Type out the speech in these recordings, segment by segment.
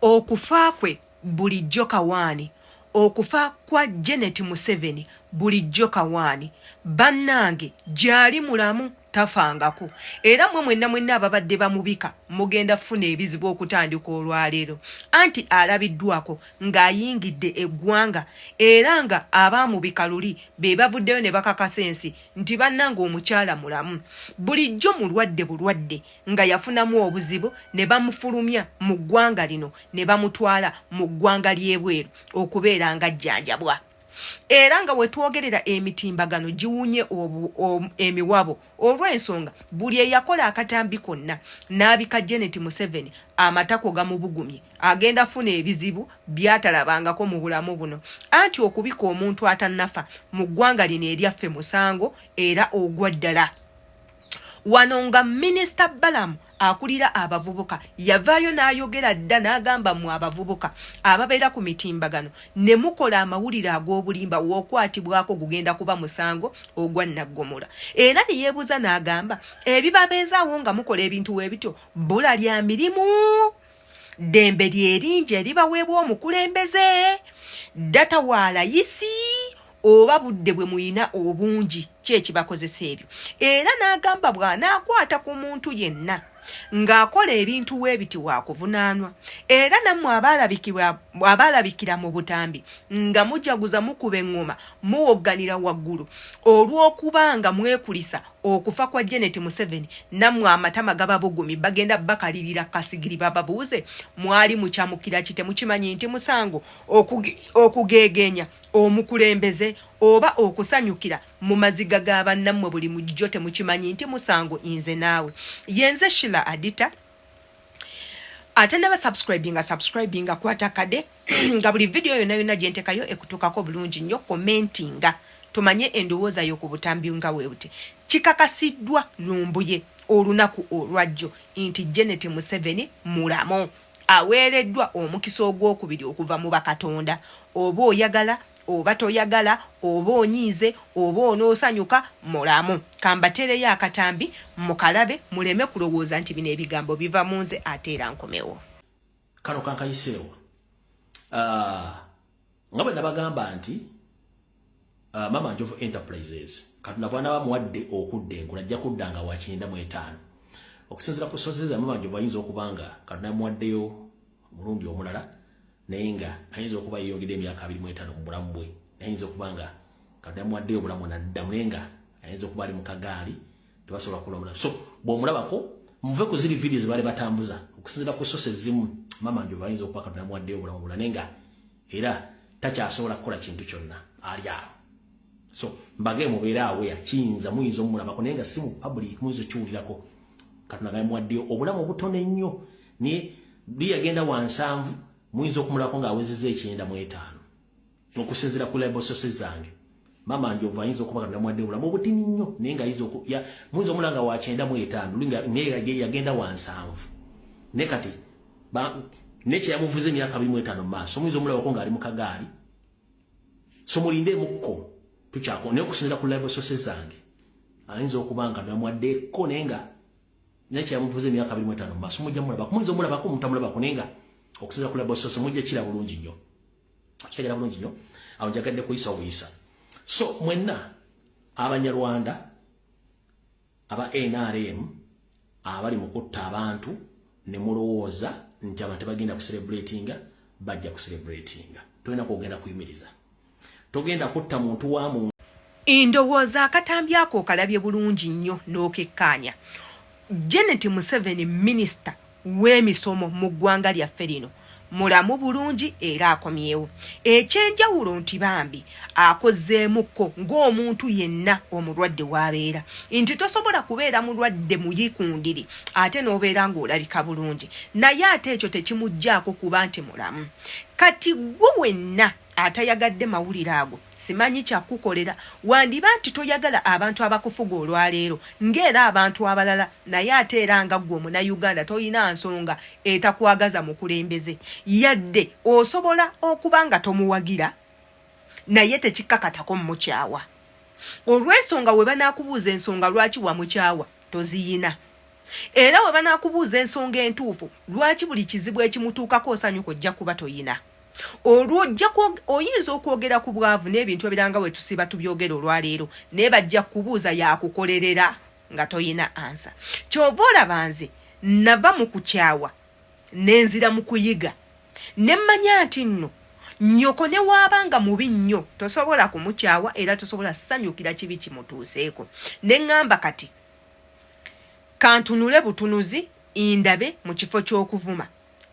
Okufa kwe bulijjo kawaani. Okufa kwa Janet Museveni bulijjo kawaani. Bannange gyali mulamu tafangako era mwe mwenna mwenna ababadde bamubika mugenda funa ebizibu okutandika olwaleero anti alabiddwako ng'ayingidde eggwanga era nga abaamubika luli be bavuddeyo ne bakakasa ensi nti bannange omukyala mulamu bulijjo mulwadde bulwadde nga yafunamu obuzibu ne bamufulumya mu ggwanga lino ne bamutwala mu ggwanga ly'ebweru okubeera nga jjanjabwa era nga wetwogerera emitimbagano giwunye emiwabo olw'ensonga buli eyakola akatambi konna n'abika janet museveni amatako gamubugumye agenda funa ebizibu byatalabangako mu bulamu buno anti okubika omuntu atanafa mu ggwanga lino eryaffe musango era ogwa ddala wano nga minisita balamu akulira abavubuka yavaayo n'ayogera dda n'agamba mu abavubuka ababeera ku mitimbagano ne mukola amawulire ag'obulimba w'okwatibwako gugenda kuba musango ogwa naggomola era ne yeebuuza n'agamba ebibabeezaawo nga mukola ebintu w'ebityo bula lya mirimu ddembe lyeringi eribaweebwa omukulembeze data wa layisi oba budde bwe muyina obungi kyekibakozesa ebyo era n'agamba bw'anaakwata ku muntu yenna ng'akola ebintu weebiti waakuvunaanwa era nammwe abaalabikira mu butambi nga mujaguza mukuba eŋŋoma muwogganira waggulu olw'okuba nga mwekulisa okufa kwa Janet Museveni namwe amatama gaba bugumi bagenda bakalirira kasigiri baba buuze mwali muchamukira kite mukimanyi nti musango okugegenya omukulembeze oba okusanyukira mu maziga gaba namwe buli mujjo temukimanyi nti musango inze naawe yenze shila adita atanaba subscribing nga subscribing nga kwata kade nga buli video yona yona jentekayo ekutukako bulungi nyo commenting nga tumanye endowooza yo ku butambi nga webuti kikakasidwa lumbuye olunaku olwajjo inti Janet Museveni mulamo aweereddwa omukisa ogwokubiri okuva mu bakatonda oba oyagala oba toyagala oba onyiize oba onoosanyuka mulamu kambateereyo akatambi mukalabe muleme kulowooza nti bino ebigambo biva mu nze ate era nkomewo kano kankayiseewo ah, nga bwe nabagamba nti ah, mama njovu enterprises katonda bwana bamuwadde okudda enkula ajja kudda nga wakyenda mu etaano okusinzira ku sozi zamama njovu ayinza okuba nga katonda yamuwaddeyo omulundi omulala naye nga ayinza okuba yeyongedde emyaka abiri mu etaano mu bulamu bwe ayinza okuba nga katonda muwaddeyo obulamu naddamu naye nga ayinza okuba ali mu kagaali tebasobola kulabula so bw'omulabako muve ku ziri vidiyo zebaali batambuza okusinzira ku sosi ezimu mama njo bayinza okuba katonda muwaddeyo obulamu bulala naye nga era takyasobola kukola kintu kyonna ali awo so mbage mubeera aweya kiyinza muyinza omulabako naye nga si mu public muyinza okiwulirako katonda nga muwaddeyo obulamu obutono ennyo naye biyagenda wansanvu muyinza okumulako ng'awezeza ekyenda mu etaano okusinzira ku libososi zange mama njovu ayinza okuba katonda mwadde obulamu obutini nnyo naye nga ayinza muyinza omula nga wakyenda mu etaano yagenda wansanvu ne kati nekyeyamuvuza emyaka abiri mu etaano mu maaso muyinza omulabako nga ali mu kagaali so mulinde emukko tukyako naye okusinzira ku live sose zange ayinza okuba nga namwaddeko naye nga nekyeyamuvuza emyaka abiri mu etaano mu maaso mujja mulabako muyinza omulabako omuntu amulabako naye nga okusinzira ku live sose mujja kira bulungi nnyo kitegera bulungi nnyo awo njagadde kuyisa obuyisa so mwenna abanyarwanda aba nrm abali mu kutta abantu ne mulowooza nti abantu tebagenda kuserebratinga bajja kuserebratinga tolina kwogenda kuyimiriza togenda kutta muntu wa muntu Ndowooza akatambi ako okalabye bulungi nnyo n'okekkaanya. Janet Museveni minisita w'emisomo mu ggwanga lyaffe lino mulamu bulungi era akomyewo. Eky'enjawulo nti bambi akozeemukko ng'omuntu yenna omulwadde w'abeera nti tosobola kubeera mulwadde muyikundiri ate n'obeera ng'olabika bulungi naye ate ekyo tekimuggyako kuba nti mulamu. Kati ggwe wenna atayagadde mawulire ago simanyi kyakukolera wandiba nti toyagala abantu abakufuga olwaleero ngaera abantu abalala naye ate era nga gwe omunauganda tolina nsonga etakwagaza mukulembeze yadde osobola okuba nga tomuwagira naye tekikkakatako mumukyawa olwensonga we banakubuuza ensonga lwaki wamukyawa toziyina era we banakubuuza ensonga entuufu lwaki buli kizibu ekimutuukako osanyuka ojja kuba toyina olwojja oyinza okwogera ku bwavu n'ebintu ebiranga we tusiba tubyogera olwaleero naye bajja kubuuza yakukolerera nga toyina ansa kyova olaba nze nava mu kukyawa nenzira mu kuyiga ne mmanya nti nno nyoko ne waaba nga mubi nnyo tosobola kumukyawa era tosobola sanyukira kibi kimutuuseeko ne ŋŋamba kati kantunule butunuzi indabe mu kifo ky'okuvuma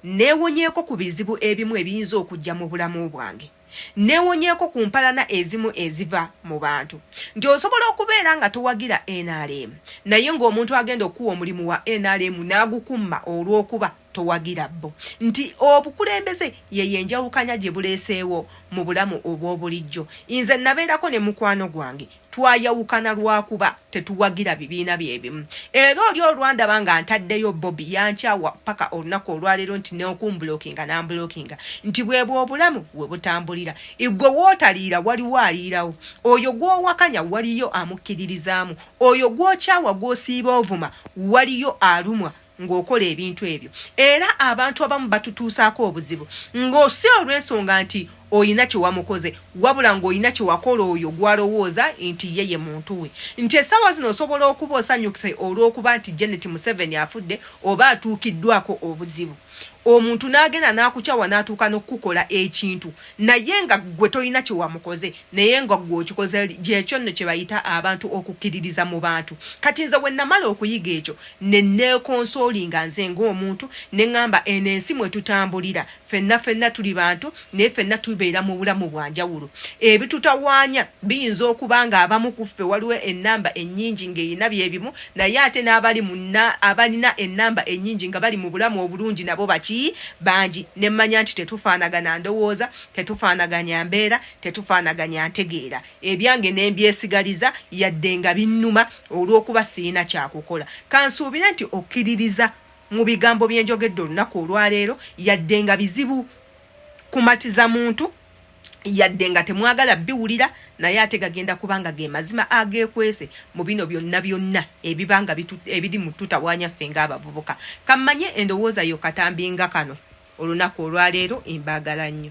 Neewonyeeko ku bizibu ebimu ebiyinza okujja mu bulamu bwange. Neewonyeeko ku mpalana ezimu eziva mu bantu. Nti osobola okubeera nga towagira NRM naye ng'omuntu agenda okukuwa omulimu wa NRM n'agukumma olw'okuba towagira bo. Nti obukulembeze yeyo enjawukanya gye buleeseewo mu bulamu obw'obulijjo. Nze nabeerako ne mukwano gwange twayawukana lwakuba tetuwagira bibiina byebimu era oli olwandaba nga ntaddeyo bobi yankyawa paka olunaku olwaleero nti neokumbulokinga nambulokinga nti bwebwe obulamu webutambulira igwe wootaliira waliwo aliirawo oyo gwowakanya waliyo amukkiririzaamu oyo gwokyawa gwosiiba ovuma waliyo alumwa ng'okola ebintu ebyo era abantu abamu batutuusaako obuzibu ng'osi olw'ensonga nti olina kyewamukoze wabula ng'olina kyewakola oyo gwalowooza nti ye ye muntu we nti essaawa zino osobola okuba osanyukise olw'okuba nti janet museveni afudde oba atuukiddwako obuzibu omuntu n'agenda n'akukyawa n'atuuka n'okukukola ekintu naye nga gwe tolina kyewamukoze naye nga gwe okikoze gyekyo nno kyebayita abantu okukkiririza mu bantu kati nze wennamala okuyiga ekyo nenekonsooli nga nze ngaomuntu neŋamba eno ensi mwe tutambulira fenna fenna tuli bantu naye fenna tubeera mu bulamu bwa njawulo ebitutawaanya biyinza okuba nga abamu ku ffe waliwo ennamba ennyingi ng'erina bye bimu naye ate n'abali muna abalina ennamba ennyingi nga bali mu bulamu obulungi nabo baki bangi ne mmanya nti tetufaanagana ndowooza tetufaanaganya mbeera tetufaanaganya ntegeera ebyange ne mbyesigaliza yadde nga binnuma olw'okuba sirina kyakukola kansuubire nti okkiririza mu bigambo bye njogedde olunaku olwaleero yadde nga bizibu kumatiza muntu yadde nga temwagala biwulira naye ate gagenda kubanga ge mazima agekwese mu bino byonna byonna ebibanga ebiri mu tutawanya ffe ng'abavubuka kammanye endowooza yo katambi nga kano olunaku olwaleero embaagala nnyo